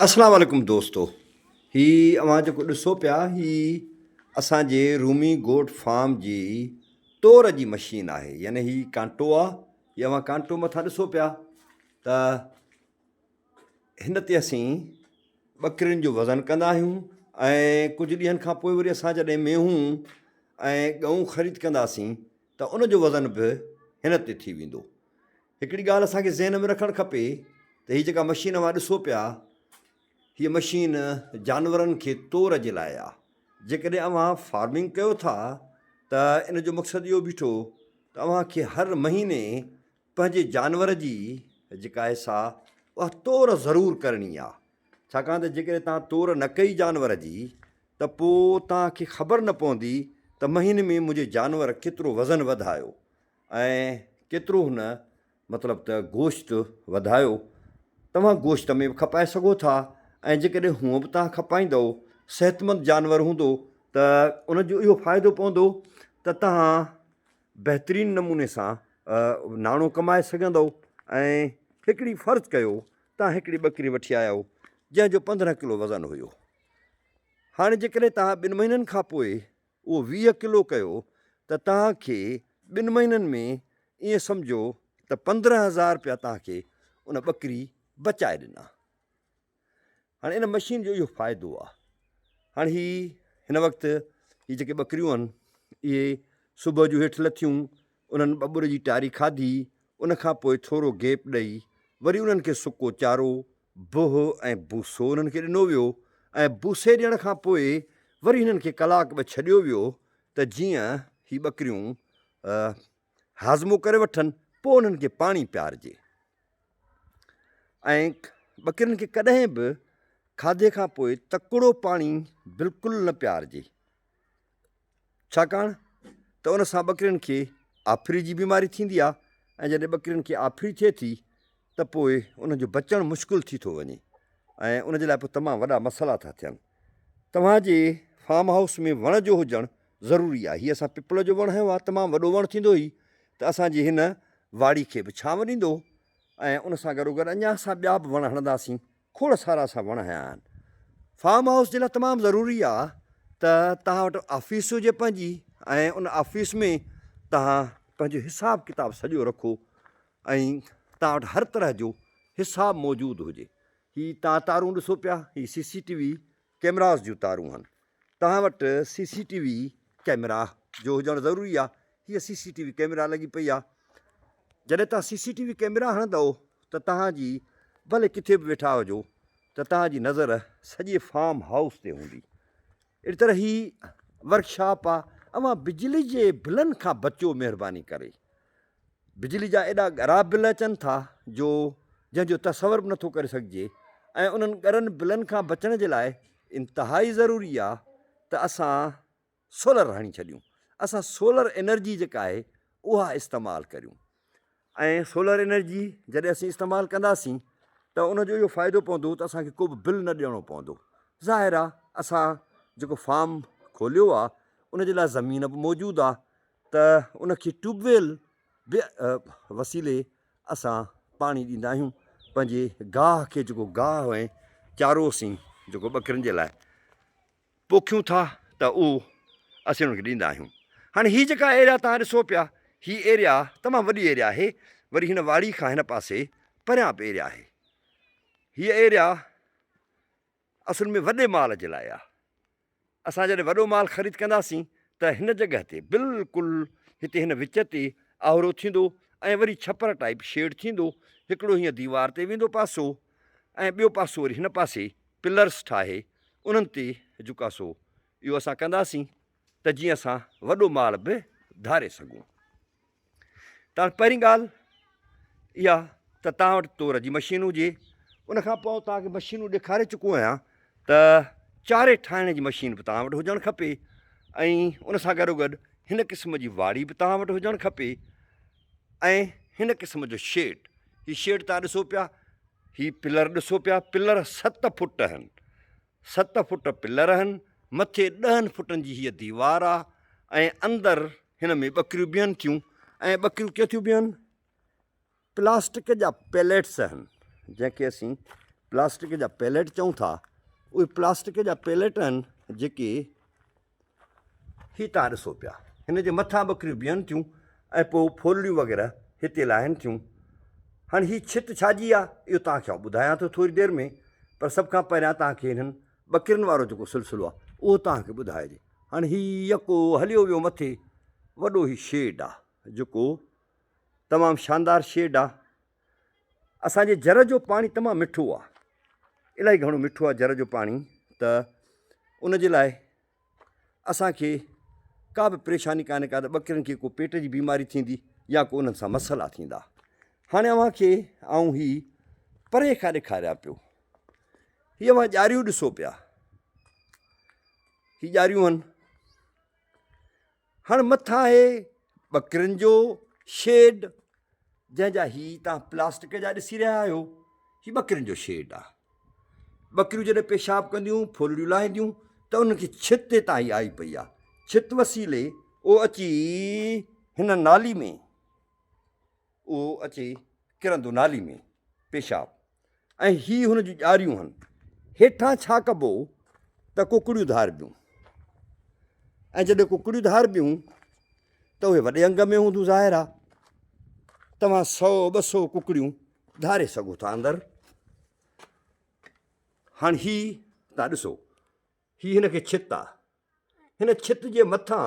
اسلام عليڪم دوستو هي اوهان جيڪو ڏسو پيا هي اسان جي رومي گوٽ فارم جي تور جي مشين آهي يعني هي ڪانٽو آ هي اوهان ڪانٽو مٿان ڏسو پيا ته هن تي اسين ٻڪرين جو وزن ڪندا آهيون ۽ ڪجهه ڏينهن کان پوء وري اسان جڏهن مينهون ۽ ڳئون خريد ڪنداسين ته ان جو وزن به هن تي ٿي ويندو هڪڙي ڳالهه اسان کي ذهن ۾ رکڻ کپي ته هي جيڪا مشين اوهان ڏسو پيا هيء مشين جانورن کي تور جي لاء آهي جيڪڏهن اوهان فارمنگ ڪيو ٿا ته ان جو مقصد اهو بيٺو ته اوهان کي هر مهيني پنهنجي جانور جي جيڪا آهي سا اها تور ضرور ڪرڻي آهي ڇاڪاڻ ته جيڪڏهن توهان تور نه ڪئي جانور جي ته پوء توهان کي خبر نه پوندي ته مهيني ۾ منهنجي جانور ڪيترو وزن وڌايو ۽ ڪيترو هن مطلب ته گوشت وڌايو توهان گوشت ۾ به کپائي سگهو ٿا ۽ جيڪڏهن هونء به توهان کپائيندؤ صحتمند جانور هوندو ته ان جو اهو فائدو پوندو ته توهان بهترين نموني سان ناڻو ڪمائي سگهندؤ ۽ هڪڙي فرض ڪيو توهان هڪڙي ٻڪري وٺي آيا آهيو جنهن جو پندرهن ڪلو وزن هيو هاڻي جيڪڏهن توهان ٻن مهينن کان پوء اهو ويهه ڪلو ڪيو ته توهان کي ٻن مهينن ۾ ائين سمجهو ته پندرهن هزار رپيا توهان کي ان ٻڪري بچائي ڏنا. هاڻي ان مشين جو اهو فائدو آهي. هاڻي هي هن وقت هي جيڪي ٻڪريون آهن اهي صبح جو هيٺ لٿيون انهن ٻٻر جي ٽاري کاڌي ان کان پوء ٿورو گيپ ڏئي وري انهن کي سڪو چارو بوهه ۽ بوسو انهن کي ڏنو ويو ۽ بوسي ڏيڻ کان پوء وري هنن کي ڪلاڪ ٻه ڇڏيو ويو ته جيئن هي ٻڪريون هاضمو ڪري وٺن پوء انهن کي پاڻي پيارجي ۽ ٻڪرين کي ڪڏهن به کاڌي کان پوء تڪڙو پاڻي بلڪل نه پيارجي. ڇاڪاڻ ته ان سان ٻڪرين کي آڦري جي بيماري ٿيندي آهي ۽ جڏهن ٻڪرين کي آڦري ٿئي ٿي ته پوء انهن جو بچڻ مشڪل ٿي ٿو وڃي ۽ ان جي لاء پوء تمام وڏا مسئلا ٿا ٿين. توهان جي فارم هائوس ۾ وڻ جو هجڻ ضروري آهي. هي اسان پپل جو وڻ هنيو آهي. تمام وڏو وڻ ٿيندو هي ته اسان جي هن واڙي کي به ڇانو ڏيندو ۽ ان سان گڏوگڏ اڃا اسان ٻيا به وڻ هڻنداسين. کوڙ سارا اسان وڻ هنيا آهن. فارم هائوس جي لاء تمام ضروري آهي ته توهان وٽ آفيس هجي پنهنجي ۽ ان آفيس ۾ توهان پنهنجو حساب ڪتاب سڄو رکو ۽ توهان وٽ هر طرح جو حساب موجود هجي. هي توهان تارون ڏسو پيا هي سي سي ٽي وي ڪيمراز جون تارون آهن توهان وٽ C C T V camera جو هجڻ ضروري آهي هيء C C T V camera لڳي پئي آهي جڏهن توهان C C T V camera هڻندؤ ته توهان جي ڀلي ڪٿي به ويٺا هجو ته توهان جي نظر سڄي فارم هائوس تي هوندي اهڙي طرح هي ورڪشاپ آهي اوهان بجلي جي بلن کان بچو مهرباني ڪري بجلي جا ايڏا ڳرا بل اچن ٿا جو جنهن جو تصور به نٿو ڪري سگهجي ۽ انهن ڳرن بلن کان بچڻ جي لاء انتهائي ضروري آ ته اسان سولر هڻي ڇڏيون اسان سولر انرجي جيڪا آهي اها استعمال ڪريون ۽ سولر انرجي جڏهن اسين استعمال ڪنداسين ته ان جو اهو فائدو پوندو ته اسان کي ڪو به بل نه ڏيڻو پوندو ظاهر آ اسان جيڪو فارم کوليو آ ان جي لاء زمين به موجود آ ته ان کي ٽيوب ويل به وسيلي اسان پاڻي ڏيندا آهيون پنهنجي گاهه کي جيڪو گاهه ۽ چارو اسين جيڪو ٻڪرين جي لاء پوکيون ٿا ته اهو اسين ان کي ڏيندا آهيون هاڻي هي جيڪا ايريا تان ڏسو پيا هي ايريا تمام وڏي ايريا آهي وري هن واڙي کان هن پاسي پريان به ايريا آهي هي ايريا اصل ۾ وڏي مال جي لاء آهي، اسان جڏهن وڏو مال خريد ڪنداسين ته هن جڳهه تي بلڪل هتي هن وچ تي آهرو ٿيندو ۽ وري ڇپر ٽائيپ شيڊ ٿيندو، هڪڙو هينئن ديوار تي ويندو پاسو ۽ ٻيو پاسو وري هن پاسي پلرس ٺاهي انهن تي جهڪاسو اهو اسان ڪنداسين. ته جيئن اسان وڏو مال به ڌاري سگهون. تاڻي پهرين ڳالهه اها ته توهان وٽ تور جي مشين هجي. ان کان پوء توهان کي مشينون ڏيکاري چڪو آهيان ته چاري ٺاهڻ جي مشين به توهان وٽ هجڻ کپي ۽ ان سان گڏوگڏ هن قسم جي واڙي به توهان وٽ هجڻ کپي ۽ هن قسم جو شيڊ هي شيڊ تان ڏسو پيا هي پلر ڏسو پيا پلر ست فٽ آهن ست فٽ پلر هن، مٿي ڏهن فٽن جي هيء ديوار آ ۽ اندر هن ۾ ٻڪريون بيهن ٿيون ۽ ٻڪريون ڪيئن ٿيون بيهن؟ پلاسٽڪ جا پيليٽس هن، جنهن کي اسين پلاسٽڪ جا پيليٽ چئون ٿا، اهي پلاسٽڪ جا پيليٽ هن جيڪي هي تان ڏسو پيا، هن جي مٿان ٻڪريون بيهن ٿيون ۽ پوء ڦولڙيون وغيره هتي لاهين ٿيون. هاڻ هي ڇت ڇا جي آ، اهو توهان کي آئون ٻڌايان ٿو ٿوري دير ۾، پر سڀ کان پهريان توهان کي هنن ٻڪرين وارو جيڪو سلسلو آ، اهو توهان کي ٻڌائجي. هاڻ هي يڪو هليو ويو مٿي، وڏو هي شيڊ آ، جيڪو تمام شاندار شيڊ آ، اسان جي جر جو پاڻي تمام مٺو آ الاهي گهڻو مٺو آ جر جو پاڻي ته ان جي لاء اسان کي ڪا به پريشاني ڪانهي ڪا ته ٻڪرين کي ڪو پيٽ جي بيماري ٿيندي يا ڪو انهن سان مسئلا ٿيندا هاڻي اوهان کي آئون هي پري کان ڏيکاريان پيو هي اوهان ڄاريون ڏسو پيا هي ڄاريون هن هاڻ مٿان آهي ٻڪرين جو شيڊ جنهن جا هي تان پلاسٽڪ جا ڏسي رهيا آهيو هي ٻڪرين جو شيڊ آهي ٻڪريون جڏهن پيشاب ڪنديون ڦولڙيون لاهينديون ته انهن کي ڇت هتان هي آئي پئي آهي ڇت وسيلي او اچي هن نالي ۾ اهو اچي ڪرندو نالي ۾، پيشاب، ۽ هي هن جون ڄاريون هن. هيٺان ڇا ڪبو ته ڪڪڙيون ڌاربيون، ۽ جڏهن ڪڪڙيون ڌاربيون ته اهي وڏي انگ ۾ هونديون ظاهر آ توهان سؤ ٻه سؤ ڪڪڙيون ڌاري سگهو ٿا اندر. هاڻ هي تان ڏسو هي هن کي ڇت آ هن ڇت جي مٿان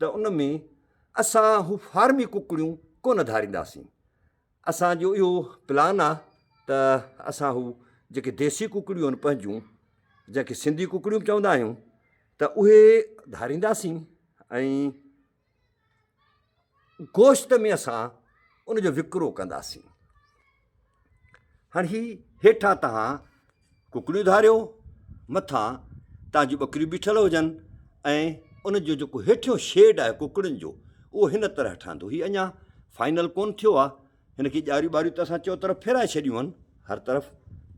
ته ان ۾ اسان هو فارمي ڪڪڙيون ڪونه ڌارينداسين. اسان جو اهو پلان آ ته اسان هو جيڪي ديسي ڪڪڙيون آهن پنهنجون جنهن کي سنڌي ڪڪڙيون به چوندا آهيون ته اهي ڌارينداسين ۽ گوشت ۾ اسان ان جو وڪرو ڪنداسين. هاڻ هي هيٺان تهان ڪڪڙيون ڌاريو، مٿان تهان جون ٻڪريون بيٺل هجن ۽ ان جو جيڪو هيٺيون شيڊ آهي ڪڪڙين جو اهو هن طرح ٺهندو. هي اڃا فائنل ڪونه ٿيو آهي. هن کي ڄاريون ٻاريون ته اسان چئو طرف ڦيرائي ڇڏيون آهن. هر طرف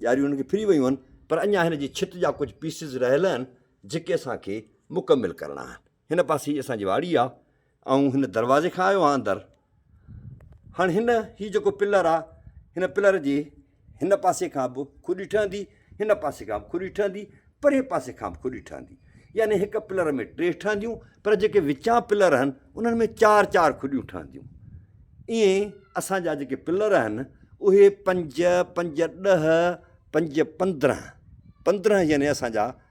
ڄاريون هن کي ڦري ويون آهن پر اڃا هن جي ڇت جا ڪجهه پيسز رهيل آهن جيڪي اسان کي مڪمل ڪرڻا آهن. هن پاسي اسان جي واڙي آ آئون هن دروازي کان آيو آهيان اندر هاڻي هن هي جيڪو پلر آ هن پلر جي هن پاسي کان به کڏي ٺهندي هن پاسي کان به کڏي ٺهندي پري پاسي کان به کڏي ٺهندي يعني هڪ پلر ۾ ٽي ٺهنديون پر جيڪي وچان پلر آهن انهن ۾ چار چار کڏيون ٺهنديون ائين اسان جا جيڪي پلر آهن اهي پنج پنج ڏه پنج پندرهن پندرهن يعني اسان جا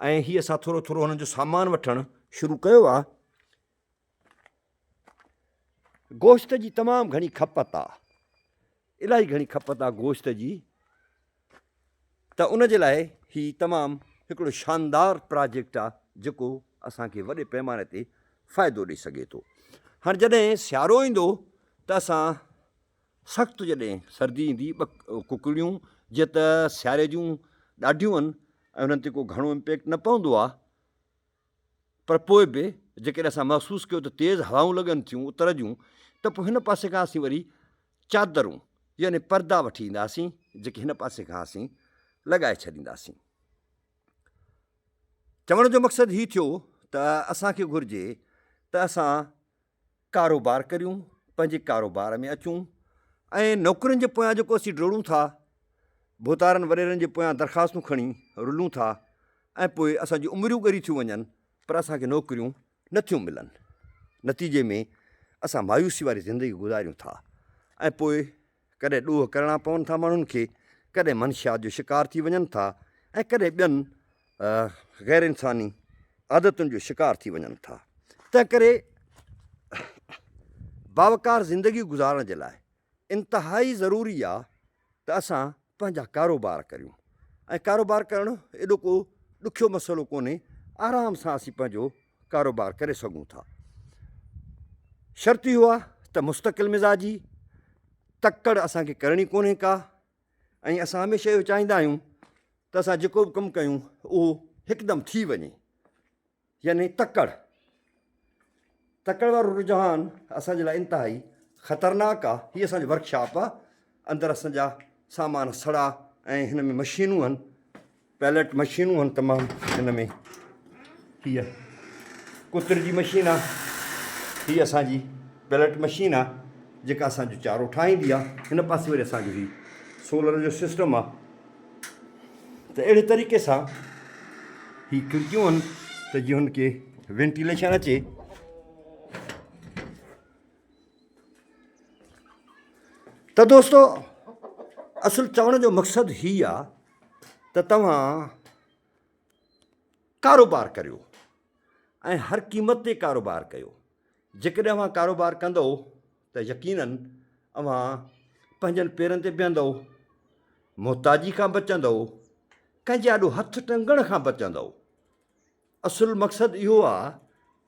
۽ هي اسان ٿورو ٿورو هنن جو سامان وٺڻ شروع ڪيو آ. گوشت جي تمام گهڻي کپت آ. الاهي گهڻي کپت آ گوشت جي ته ان جي لاء هي تمام هڪڙو شاندار پراجيڪٽ آ جيڪو اسان کي وڏي پيماني تي فائدو ڏئي سگهي ٿو. هاڻ جڏهن سيارو ايندو ته اسان سخت جڏهن سردي ايندي ٻه ڪڪڙيون جيئن ته سياري جون ڏاڍيون هن ۽ انهن تي ڪو گهڻو امپيڪٽ نه پوندو آهي پر پوء به جيڪڏهن اسان محسوس ڪيو ته تيز هوائون لڳن ٿيون اتر جون ته پوء هن پاسي کان اسين وري چادرون يعني پردا وٺي اينداسين جيڪي هن پاسي کان اسين لڳائي ڇڏينداسين. چوڻ جو مقصد هي ٿيو ته اسان کي گهرجي ته اسان ڪاروبار ڪريون، پنهنجي ڪاروبار ۾ اچون ۽ نوڪرين جي پويان جيڪو اسين ڊوڙون ٿا، ڀوتارن وڏيرن جي پويان درخواستون کڻي رلون ٿا ۽ پوء اسان جون عمريون ڳريون ٿيون وڃن پر اسان کي نوڪريون نه ٿيون ملن. نتيجي ۾ اسان مايوسي واري زندگي گذاريون ٿا ۽ پوء ڪڏهن ڏوهه ڪرڻا پون ٿا ماڻهن کي، ڪڏهن منشيات جو شڪار ٿي وڃن ٿا ۽ ڪڏهن ٻين غير انساني عادتن جو شڪار ٿي وڃن ٿا. تنهنڪري باوقار زندگي گذارڻ جي لاء انتهائي ضروري آ ته اسان پنهنجا ڪاروبار ڪريون ۽ ڪاروبار ڪرڻ ايڏو ڪو ڏکيو مسئلو ڪونهي آرام سان اسين پنهنجو ڪاروبار ڪري سگهون ٿا. شرط اهو آهي ته مستقل مزاجي، تڪڙ اسان کي ڪرڻي ڪونهي ڪا ۽ اسان هميشه اهو چاهيندا آهيون ته اسان جيڪو به ڪم ڪيون اهو هڪدم ٿي وڃي يعني تڪڙ تڪڙ وارو رجحان اسان جي لاء انتهائي خطرناڪ آهي هي اسان جو ورڪشاپ آهي. اندر اسان جا سامان سڙا ۽ هن ۾ مشينون هن پيلٽ مشينون هن تمام هن ۾ هي ڪتر جي مشين آ هي اسان جي پيلٽ مشين آ جيڪا اسان جو چارو ٺاهيندي آ هن پاسي وري اسان جو هي سولر جو سسٽم آ ته اهڙي طريقي سان هي کڙڪيون هن ته جي هن کي وينٽيليشن اچي ته دوستو اصل چوڻ جو مقصد هي آ ته توهان ڪاروبار ڪريو ۽ هر قيمت تي ڪاروبار ڪيو جيڪڏهن اوهان ڪاروبار ڪندو ته يقيناً اوهان پنهنجن پيرن تي بيهندو محتاجي کان بچندو ڪنهن جي آڏو هٿ ٽنگڻ کان بچندو اصل مقصد اهو آ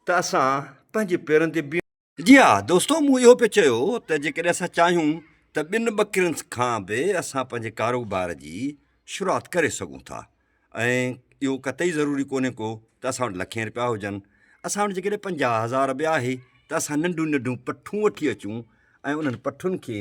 ته اسان پنهنجي پيرن تي بيهون جي ها دوستو مون اهو پيو چيو ته جيڪڏهن اسان چاهيون ته ٻن ٻڪرين کان به اسان پنهنجي ڪاروبار جي شروعات ڪري سگهون ٿا ۽ اهو قطعي ضروري ڪونهي ڪو ته اسان وٽ لکين رپيا هجن اسان وٽ جيڪڏهن پنجاهه هزار به آهي ته اسان ننڍيون ننڍيون پٺون وٺي اچون ۽ انهن پٺن کي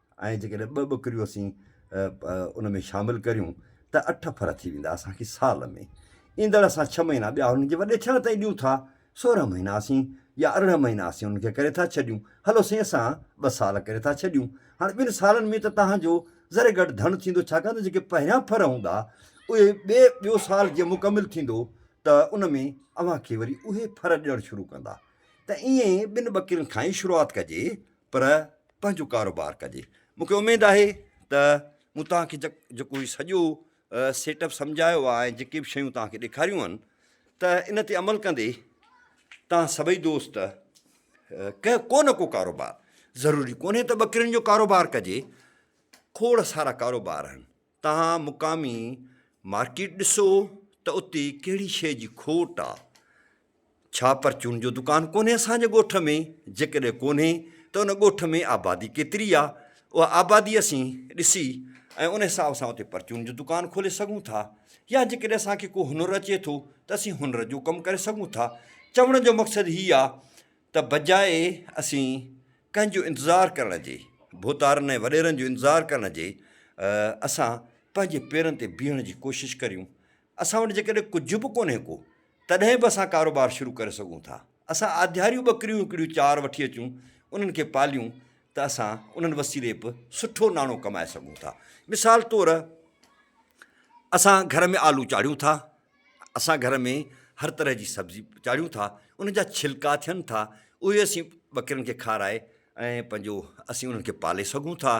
۽ جيڪڏهن ٻه ٻڪريون اسين ان ۾ شامل ڪريون ته اٺ ڦر ٿي ويندا اسانکي سال ۾ ايندڙ اسان ڇهه مهينا ٻيا هنن کي وڏي ٿيڻ تائين ڏيون ٿا سورهن مهينا اسين يا ارڙهن مهينا اسين هنن کي ڪري ٿا ڇڏيون هلو سائين اسان ٻه سال ڪري ٿا ڇڏيون هاڻي ٻن سالن ۾ ته تهانجو ذري گهٽ ڌڻ ٿيندو ڇاڪاڻ ته جيڪي پهريان ڦر هوندا اهي ٻي ٻيو سال جيئن مڪمل ٿيندو ته ان ۾ اوهانکي وري اهي ڦر ڏيڻ شروع ڪندا ته ايئن ٻن ٻڪرين کان ئي شروعات ڪجي پر پنهنجو ڪاروبار ڪجي. مون کي اميد آهي ته مون توهان کي جيڪو هي سڄو سيٽ اپ سمجهايو آهي ۽ جيڪي به شيون توهان کي ڏيکاريون آهن ته ان تي عمل ڪندي توهان سڀئي دوست ڪنهن ڪو نه ڪو ڪاروبار ضروري ڪونهي ته ٻڪرين جو ڪاروبار ڪجي کوڙ سارا ڪاروبار آهن توهان مقامي مارڪيٽ ڏسو ته اتي ڪهڙي شيء جي کوٽ آ. ڇا پرچون جو دڪان ڪونهي اسان جي ڳوٺ ۾؟ جيڪڏهن ڪونهي ته ان ڳوٺ ۾ آبادي ڪيتري آ؟ اها آبادي اسين ڏسي ۽ ان حساب سان اتي پرچون جو دڪان کولي سگهون ٿا يا جيڪڏهن اسان کي ڪو هنر اچي ٿو ته اسين هنر جو ڪم ڪري سگهون ٿا. چوڻ جو مقصد هي آ ته بجاء اسين ڪنهن جو انتظار ڪرڻ جي، ڀوتارن ۽ وڏيرن جو انتظار ڪرڻ جي اسان پنهنجي پيرن تي بيهڻ جي ڪوشش ڪريون. اسان وٽ جيڪڏهن ڪجهه به ڪونهي ڪو تڏهن به اسان ڪاروبار شروع ڪري سگهون ٿا. اسان آڌياريون ٻڪريون هڪڙيون چار وٺي اچون انهن کي پاليون ته اسان انهن وسيلي به سٺو ناڻو ڪمائي سگهون ٿا. مثال طور اسان گهر ۾ آلو چاڙهيون ٿا اسان گهر ۾ هر طرح جي سبزي چاڙهيون ٿا، ان جا ڇلڪا ٿين ٿا، اهي اسين ٻڪرين کي کارائي ۽ پنهنجو اسين انهن کي پالي سگهون ٿا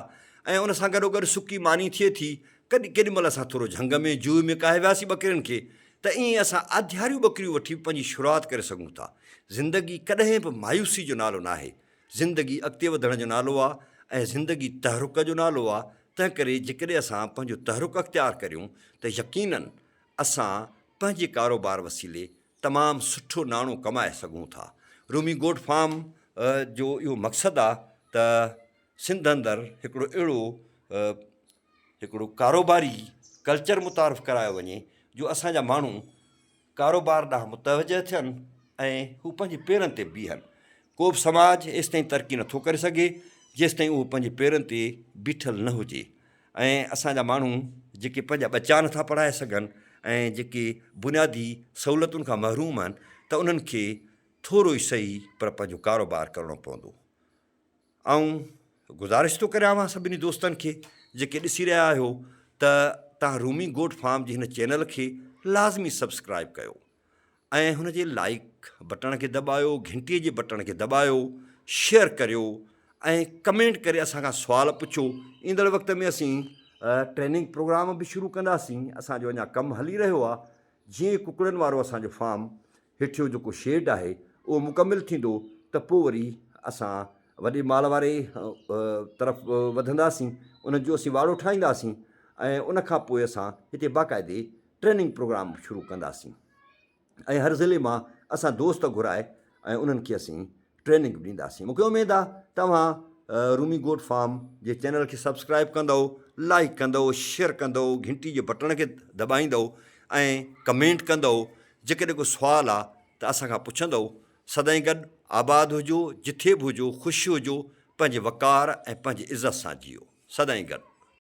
۽ ان سان گڏوگڏ سڪي ماني ٿئي ٿي. ڪڏهن ڪيڏي مهل اسان ٿورو جهنگ ۾ جوء ۾ ڪاهي وياسين ٻڪرين کي ته ائين اسان آڌياريون ٻڪريون وٺي به پنهنجي شروعات ڪري سگهون ٿا. زندگي ڪڏهن به مايوسي جو نالو ناهي، زندگي اڳتي وڌڻ جو نالو آ ۽ زندگي تحرڪ جو نالو آ، تنهنڪري جيڪڏهن اسان پنهنجو تحرڪ اختيار ڪريون ته يقينن اسان پنهنجي ڪاروبار وسيلي تمام سٺو ناڻو ڪمائي سگهون ٿا. رومي گوٽ فارم جو اهو مقصد آ ته سنڌ اندر هڪڙو اهڙو هڪڙو ڪاروباري ڪلچر متعارف ڪرايو وڃي جو اسان جا ماڻهو ڪاروبار ڏانهن متوجه ٿين ۽ هو پنهنجي پيرن تي بيهن. ڪو به سماج ايستائين ترقي نٿو ڪري سگهي جيستائين اهو پنهنجي پيرن تي بيٺل نه هجي. ۽ اسان جا ماڻهو جيڪي پنهنجا ٻچا نٿا پڙهائي سگهن ۽ جيڪي بنيادي سهولتن کان محروم آهن ته انهن کي ٿورو ئي سهي پر پنهنجو ڪاروبار ڪرڻو پوندو. آئون گذارش ٿو ڪريان اوهان سڀني دوستن کي جيڪي ڏسي رهيا آهيو ته توهان رومي گوٽ فارم جي هن چينل کي لازمي سبسڪرائيب ڪيو. ۽ هن جي لائيڪ بٽڻ کي دٻايو گهنٽي جي بٽڻ کي دٻايو شيئر ڪريو ۽ ڪمينٽ ڪري اسان کان سوال پڇو ايندڙ وقت ۾ اسين ٽريننگ پروگرام به شروع ڪنداسين اسان جو اڃا ڪم هلي رهيو آ جي ڪڪڙن وارو اسان جو فارم هيٺيو جيڪو شيڊ آهي اهو مڪمل ٿيندو ته پو وري اسان وڏي مال واري طرف وڌنداسين ان جو اسين واڙو ٺاهينداسين ۽ ان کان پوء اسان هتي باقاعدي ٽريننگ پروگرام شروع ڪنداسين ۽ هر ضلعي مان اسان دوست گهرائي ۽ انهن کي اسين ٽريننگ به ڏينداسين مون کي اميد آهي توهان رومي گوٽ فارم جي چينل کي سبسڪرائب ڪندؤ لائڪ ڪندؤ شيئر ڪندؤ گهنٽي جي بٽڻ کي دٻائيندؤ ۽ ڪمينٽ ڪندؤ جيڪڏهن ڪو سوال آهي ته اسان کان پڇندؤ سدائين گڏ آباد هجو جٿي به هجو خوش هجو پنهنجي وقار ۽ پنهنجي عزت سان جيئو سدائين گڏ.